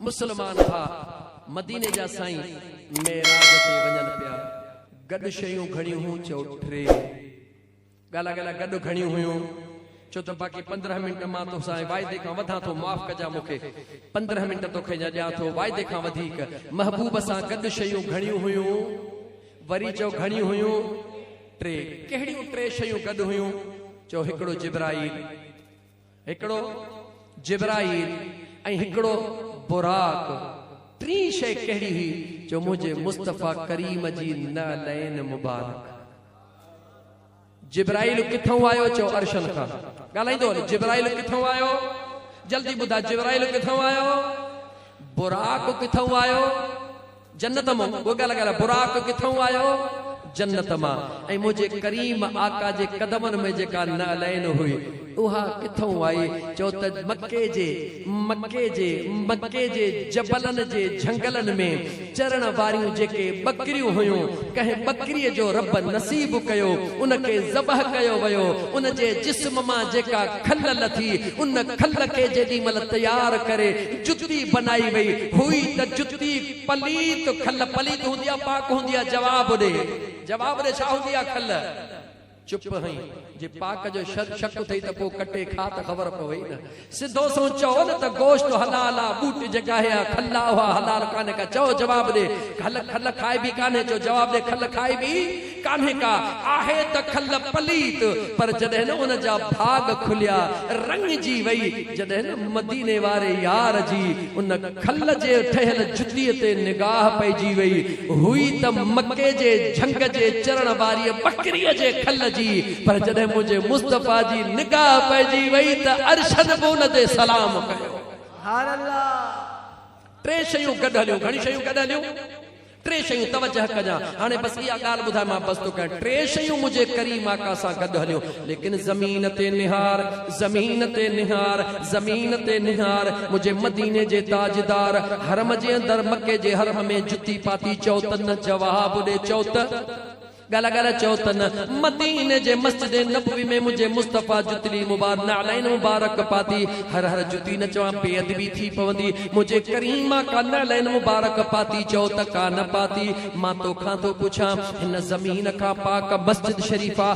مسلمان ڀاء مديني جا سائين معراج تي وڃن پيا گڏ شيون گهڻيون هون چئو ٽي ڳالا ڳالا گڏ گهڻيون هيون چو ته باقي پندرهن منٽ مان تو سان واعدي کان وڌان ٿو معاف ڪجا مون کي پندرهن منٽ تو کي اڃا ڏيان ٿو واعدي کان وڌيڪ محبوب سان گڏ شيون گهڻيون هيون وري چئو گهڻيون هيون ٽي ڪهڙيون ٽي شيون گڏ هيون چئو هڪڙو جبرائيل هڪڙو جبرائيل ۽ هڪڙو براق، ٽين شيء ڪهڙي هئي جو منهنجي مصطفيٰ ڪريم جي نعلين مبارڪ. جبرائيل ڪٿئون آيو چئو عرشن کان ڳالهائيندو هل جبرائيل ڪٿئون آيو جلدي ٻڌاء جبرائيل ڪٿئون آيو براق ڪٿئون آيو. جنت مان گوگا لڳايل براق ڪٿئون آيو؟ جنت مان ۽ منهنجي ڪريم آقا جي قدمن ۾ جيڪا نعلين هئي اها ڪٿئون آئي؟ چئو ته مڪي جي مڪي جي مڪي جي جبلن جي جهنگلن ۾ چرڻ واريون جيڪي ٻڪريون هيون ڪنهن ٻڪريء جو رب نصيب ڪيو ان کي ذبح ڪيو ويو ان جي جسم مان جيڪا کل لٿي ان کل کي جيڏي مهل تيار ڪري جتي بنائي وئي هئي ته جتي ڪتي پليت کل پليت هوندي آ پاڪ هوندي آ جواب ڏي جواب ڏي ڇا هوندي آ کل چپ هئين جي پاڪ جو شد شڪ اٿئي ته پو ڪٽي کاء ته خبر پوي نه سڌو سون چئو نه ته گوشت حلال آ ٻوٽ جيڪا هي آ کل آ اها حلال ڪانهي ڪا چئو جواب ڏي کل کل کائبي ڪانهي چئو جواب ڏي کل کائبي ڪانهي ڪا، آهي ته کل پليت، پر جڏهن نه ان جا ڀاڳ کليا، رڱجي وئي، جڏهن نه مديني واري يار جي ان کل جي ٺهيل جتيء تي نگاهه پئجي وئي هئي ته مڪي جي جهنگ جي چرڻ واريء ٻڪريء جي کل جي، پر جڏهن منهنجي مصطفيٰ جي نگاهه پئجي وئي ته عرشن به ان تي سلام ڪيو. ٽي شيون گڏ هليون، گهڻيون شيون گڏ هليون. ٽي شيون توجه ڪجان هاڻي بس اها ڳالهه ٻڌاء مان بس تو ڪيان ٽي شيون منهنجي ڪريم آقا سان گڏ هليون ليڪن زمين تي نهار زمين تي نهار زمين تي نهار منهنجي مديني جي تاجدار حرم جي اندر مڪي جي حرم ۾ جتي پاتي چئو ته نه جواب ڏي چئو ته ڳالهه ڳالهه چيو ته نه مديني جي مسجد نبوي ۾ منهنجي مصطفيٰ جتلي مبار نعلين مبارڪ پاتي هر هر جتي نه چوان بي ادبي ٿي پوندي منهنجي ڪريم آقا نعلين مبارڪ پاتي چئو ته ڪا نه پاتي مان توکان ٿو پڇان هن زمين کان پاڪ مسجد شريفه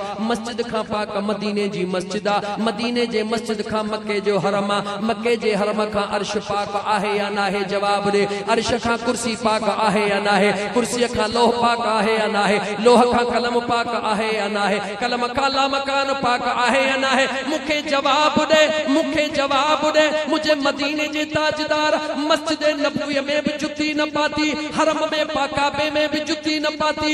مسجد کان پاڪ مديني جي مسجد آ، مديني جي مسجد کان مڪي جو حرم آ، مڪي جي حرم کان عرش پاڪ آهي يا ناهي جواب ڏي، عرش کان ڪرسي پاڪ آهي يا ناهي، ڪرسي کان لوح پاڪ آهي يا ناهي، لوح کان قلم پاڪ آهي يا ناهي، قلم کان لامڪان پاڪ آهي يا ناهي، مون کي جواب ڏي، مون کي جواب ڏي، منهنجي مديني جي تاجدار مسجد نبويء ۾ به جتي نه پاتي، حرم ۾ پاڪ ڪعبي ۾ به جتي نه پاتي،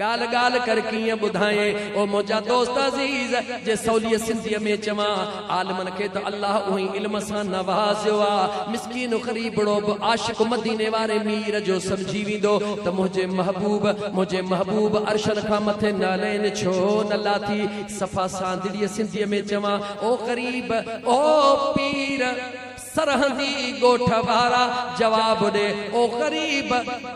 ڳالهه ڳالهه ڪر ڪيئن ٻڌايين او منهنجا دوست عزيز جي سوليء سنڌيء ۾ چوان، عالمن کي ته الله اونهي علم سان نوازيو آ، مسڪين غريبڙو به عاشق مديني واري مير جو سمجهي ويندو ته منهنجي محبوب منهنجي محبوب عرشن کان مٿي نعلين ڇو نه لاٿي، صفا ساندڙيء سنڌيء ۾ چوان، او غريب! او پير! سرهندي ڳوٺ وارا جواب ڏي، او غريب!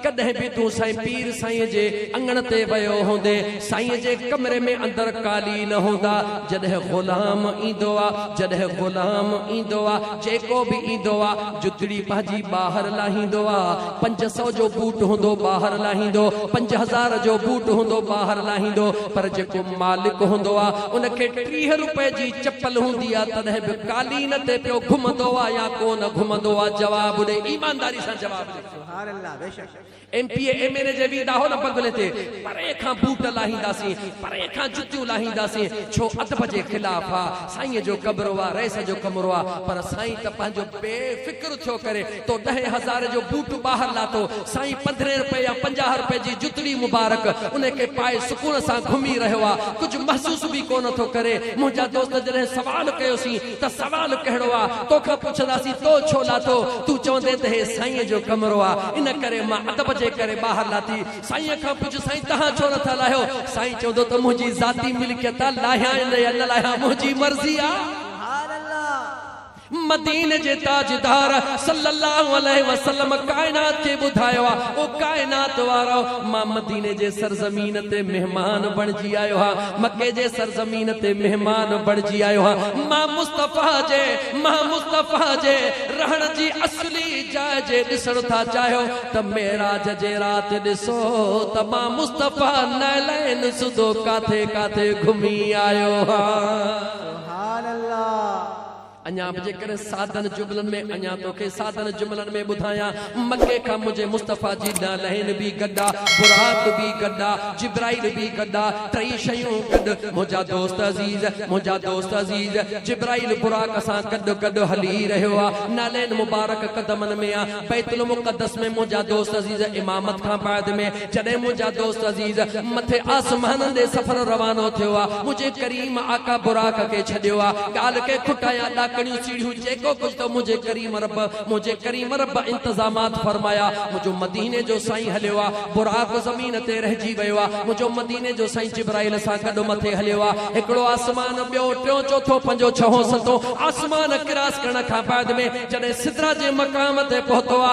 ڪڏهن به تون سائين پير سائينء جي اڱڻ تي ويو هوندين، سائينء جي ڪمري ۾ اندر قالين هوندا، جڏهن غلام ايندو آ، جڏهن غلام ايندو آ، جيڪو به ايندو آ، جتڙي پنهنجي ٻاهر لاهيندو آ، پنج سئو جو بوٽ هوندو ٻاهر لاهيندو، پنج هزار جو بوٽ هوندو ٻاهر لاهيندو، پر جيڪو مالڪ هوندو آ، ان کي ٽيهه روپئي جي چپل هوندي آ تڏهن به قالين تي پيو گهمندو آ يا ڪو نه گهمندو آ جواب ڏي ايمانداري سان جواب ڏي. سبحان الله بيشڪ M P A M N A جي ويندا هو نه بنگلي تي پري کان بوٽ لاهينداسين پري کان جتيون لاهينداسين ڇو ادب جي خلاف آ سائين جو ڪبرو آ رئيس جو ڪمرو آ پر سائين ته پنهنجو بي فڪر ٿيو ڪري تو ڏهين هزارين جو بوٽ ٻاهر لاٿو، سائين پندرهين رپئي يا پنجاهه رپئي جي جتڙي مبارڪ، انهي کي پائي سڪون سان گهمي رهيو آ، ڪجهه محسوس به ڪونه ٿو ڪري، منهنجا دوست جڏهن سوال ڪيوسين ته سوال ڪهڙو آ، توکان پڇنداسين تو ڇو لاٿو، تون چوندين ته هي سائينء جو ڪمرو آ، ان ڪري مان ادب جي ڪري ٻاهر لاٿي، سائينء کان پڇ سائين تهان ڇو نه ٿا لاهيو، سائين چوندو ته منهنجي ذاتي ملڪيت آ، لاهيانء نه يا نه لاهيان منهنجي مرضي آ. مديني جي تاجدار صلّي اللّٰه عليه وسلّم ڪائنات کي ٻڌايو آ، او ڪائنات وارؤ! مان مديني جي سرزمين تي مهمان بڻجي آيو هان، مڪي جي سرزمين تي مهمان بڻجي آيو هان، مان مصطفيٰ جي، مان مصطفيٰ جي رهڻ جي اصلي جاء جي ڏسڻ ٿا چاهيو ته معراج جي رات ڏسو ته مان مصطفيٰ نعلين سوڌو ڪاٿي ڪاٿي گهمي آيو هان. سبحان الله. اڃا به جيڪڏهن سادن جملن ۾ اڃا توکي سادن جملن ۾ ٻڌايان، مڪي کان منهنجي مصطفيٰ جي نعلين به گڏ آ، براق به گڏ آ، جبرائيل به گڏ آ، ٽئي شيون گڏ، منهنجا دوست عزيز، منهنجا دوست عزيز، جبرائيل براق سان گڏ گڏ هلي رهيو آ، نعلين مبارڪ قدمن ۾ آ، بيت المقدس ۾ منهنجا دوست عزيز امامت کان بعد ۾، جڏهن منهنجا دوست عزيز مٿي آسمانن ڏي سفر روانو ٿيو آ، منهنجي ڪريم آقا براق کي ڇڏيو آ، ڳالهه ڪنهن کٽا يا ڏاڪڻيون سيڙهيون جيڪو ڪجهه ته منهنجي ڪريم رب، منهنجي ڪريم رب انتظامات فرمايا، منهنجو مديني جو سائين هليو آ، براق زمين تي رهجي ويو آ، منهنجو مديني جو سائين جبرائيل سان گڏ مٿي هليو آ، هڪڙو آسمان ٻيو ٽيون چوٿون پنجون ڇهون ستون آسمان ڪراس ڪرڻ کان بعد ۾ جڏهن سدرا جي مقام تي پهتو آ،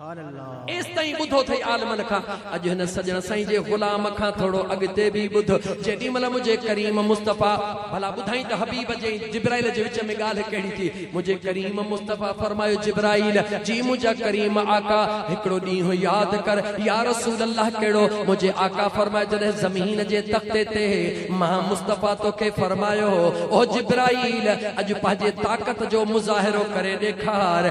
ايستائين ٻڌو ٿئي عالمن کان، اڄ هن سڄڻ سائين جي غلام کان ٿورو اڳتي به ٻڌ، جيڏي مهل منهنجي ڪريم مصطفيٰ، ڀلا ٻڌائين ته حبيب جي ۽ جبرائيل جي وچ ۾ ڳالهه ڪهڙي ٿي، منهنجي ڪريم مصطفيٰ فرمايو جبرائيل، جي منهنجا ڪريم آقا! هڪڙو ڏينهن ياد ڪر، يا رسول الله ڪهڙو؟ منهنجي آقا فرمايو جڏهن زمين جي تختي تي مان مصطفيٰ توکي فرمايو هو، او جبرائيل! اڄ پنهنجي طاقت جو مظاهرو ڪري ڏيکار.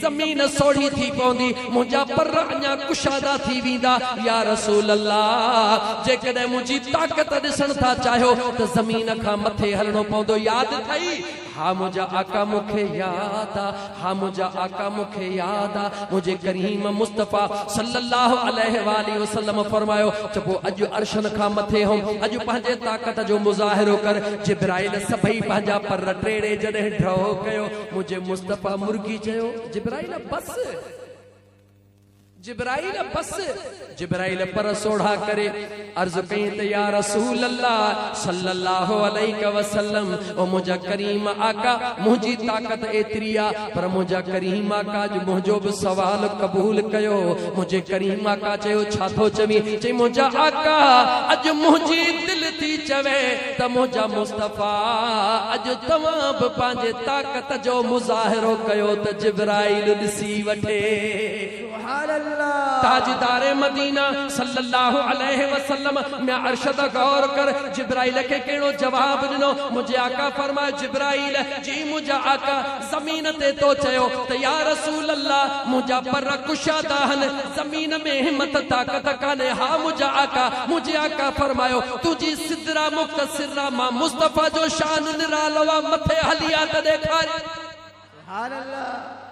زمين سوڙهي ٿي پوندي، منهنجا پر اڃا ڪشادا ٿي ويندا، يا رسول الله! جيڪڏهن منهنجي طاقت ڏسڻ ٿا چاهيو ته زمين کان مٿي هلڻو پوندو، ياد اٿئي؟ ها منهنجا آقا مون کي ياد آ، ها منهنجا آقا مون کي ياد آ، منهنجي ڪريم مصطفيٰ صلّي اللّٰه عليه واٰله وسلّم فرمايو ته پوء اڄ عرشن کان مٿي هوم، اڄ پنهنجي طاقت جو مظاهرو ڪر، جبرائيل سڀئي پنهنجا پر ٽيڙي جڏهن ڍؤ ڪيو، منهنجي مصطفيٰ مرغي چيو، جبرائيل بس! جبرائيل بس! جبرائيل پر سوڙها ڪري عرض ڪئين ته يا رسول الله صلّي الله عليه وسلّم او منهنجا ڪريم آقا منهنجي طاقت ايتري آ پر منهنجا ڪريم آقا اڄ منهنجو به سوال قبول ڪيو منهنجي ڪريم آقا چيو ڇا ٿو چوين چئين منهنجا آقا اڄ منهنجي دل ٿي چوي ته منهنجا مصطفيٰ اڄ توهان به پنهنجي طاقت جو مظاهرو ڪيو ته جبرائيل ڏسي وٺي. تاجدار مدينه صلّي الله عليه وسلّم ميان ارشد غور ڪر جبرائيل کي ڪهڙو جواب ڏنو منهنجي آقا فرمايو جبرائيل جي منهنجا آقا زمين تي تو چيو ته يا رسول الله منهنجا پر ڪشادا هن زمين ۾ همٿ طاقت ڪانهي ها منهنجا آقا منهنجي آقا فرمايو تنهنجي سدرا مختصرا مان مصطفيٰ جو شان نرالو آ مٿي هلي آ ته ڏيکاري. سبحان الله.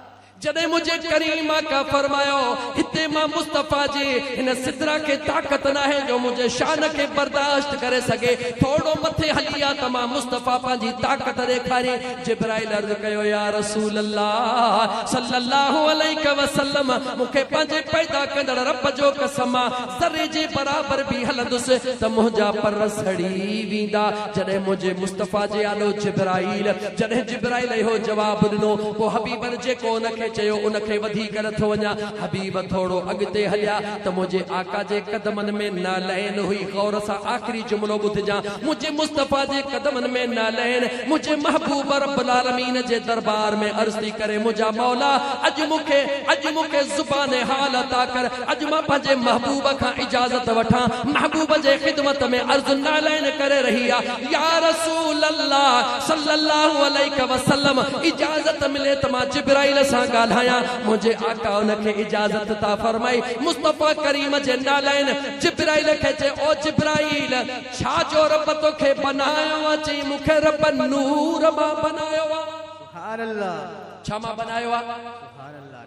جڏهن منهنجي ڪريم آقا فرمايو هتي مان مصطفيٰ جي هن سدرا کي طاقت ناهي جو منهنجي شان کي برداشت ڪري سگهي ٿورڙو مٿي هلي آ ته مان مصطفيٰ پنهنجي طاقت ڏيکاري جبرائيل عرض ڪيو يا رسول الله صلّي اللّٰه عليه وسلّم مون کي پنهنجي پيدا ڪندڙ ربّ جو قسم آ ذري جي برابر به هلندس ته منهنجا پر سڙي ويندا. جڏهن منهنجي مصطفيٰ جي آڏو جبرائيل جڏهن جبرائيل اهو جواب ڏنو پوء حبيبن جيڪو ان کي چيو ان کي وڌي ڪر ٿو وڃان حبيب ٿورو اڳتي هليا ته منهنجي آقا جي قدمن ۾ نعلين هئي غور سان آخري جملو ٻڌجان منهنجي مصطفيٰ جي قدمن ۾ نعلين منهنجي محبوب رب العالمين جي دربار ۾ عرض ٿي ڪري منهنجا مولا اڄ مون کي اڄ مون کي زبان حال عطا ڪر اڄ مان پنهنجي محبوب کان اجازت وٺان، محبوب جي خدمت ۾ عرض نعلين ڪري رهي آ، يا رسول الله صلّي الله عليه وسلّم اجازت ملي ته مان جبرائيل سان ڳالهايان، منهنجي آقا ان کي اجازت عطا فرمائي، مصطفٰي ڪريم جي نعلين جبرائيل کي چئي، او جبرائيل! ڇا جو ربّ توکي بنايو آ، چئي، مون کي ربّ نور مان بنايو آ. سبحان الله. ڇا مان بنايو آ؟ سبحان الله.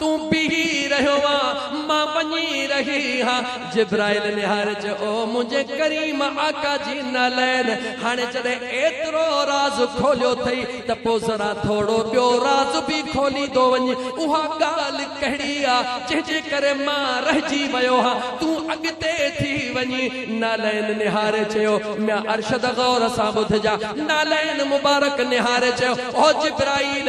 تون بيهي رهيو آ، مان وڃي رهي آ. جبرائيل نهاري چيو، او منهنجي ڪريم آقا جي نعلين! هاڻي جڏهن ايترو راز کوليو اٿئي ته پوء ذرا ٿورو ٻيو راز به کوليندو وڃ. اها ڳالهه ڪهڙي آ، جنهن جي ڪري مان رهجي ويو هان. تون اڳتي ٿي وڃ. نعلين نهاري چيو، ميان ارشد غور سان ٻڌجان. نعلين مبارڪ نهاري چيو، او جبرائيل!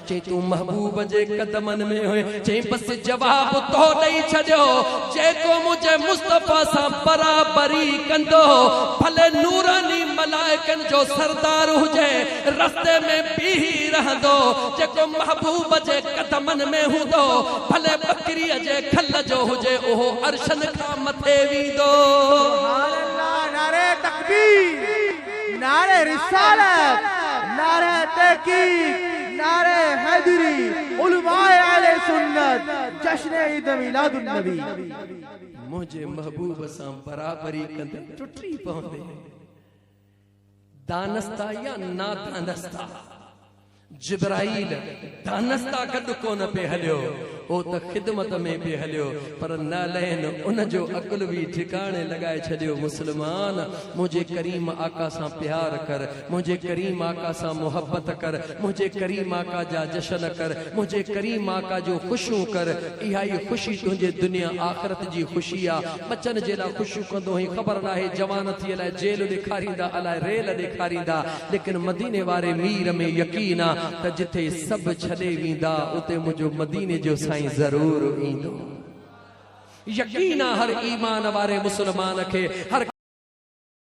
چئين تون محبوب جي قدمن ۾ هئين. چئين بس جواب تو ڏئي ڇڏيو. جيڪو منهنجي مصطفيٰ سان برابري ڪندو، ڀلي نوراني ملائڪن جو سردار هجي، رستي ۾ بيهي رهندو. جيڪو محبوب جي قدمن ۾ هوندو، ڀلي ٻڪريء جي کل جو هجي، اهو عرشن کان مٿي ويندو. سبحان الله نعره تڪبير. نعري رسالت، نعري تحقيق، نعري حيدري، علماء اهل سنت، جشن عيد ميلاد النبي. منهنجي محبوب سان برابري ڪندي ٽٽي پوندي، دانستا يا نادانستا. جبرائيل دانستا گڏ ڪونه پئي هليو، هو ته خدمت ۾ پئي هليو، پر نعلين ان جو عقل به ٺڪاڻي لڳائي ڇڏيو، مسلمان! منهنجي ڪريم آقا سان پيار ڪر، منهنجي ڪريم آقا سان محبت ڪر، منهنجي ڪريم آقا جا جشن ڪر، منهنجي ڪريم آقا جون خوشيون ڪر، اها ئي خوشي تنهنجي دنيا آخرت جي خوشي آ، ٻچن جي لاء خوشيون ڪندو هئين، خبر ناهي جوان ٿيء لاء جيل ڏيکاريندا الاء ريل ڏيکاريندا، ليڪن مديني واري مير ۾ يقين آ ته جتي سڀ ڇڏي ويندا اتي منهنجو مديني جو سائين ضرور ايندو يقين آ هر ايمان واري مسلمان کي هر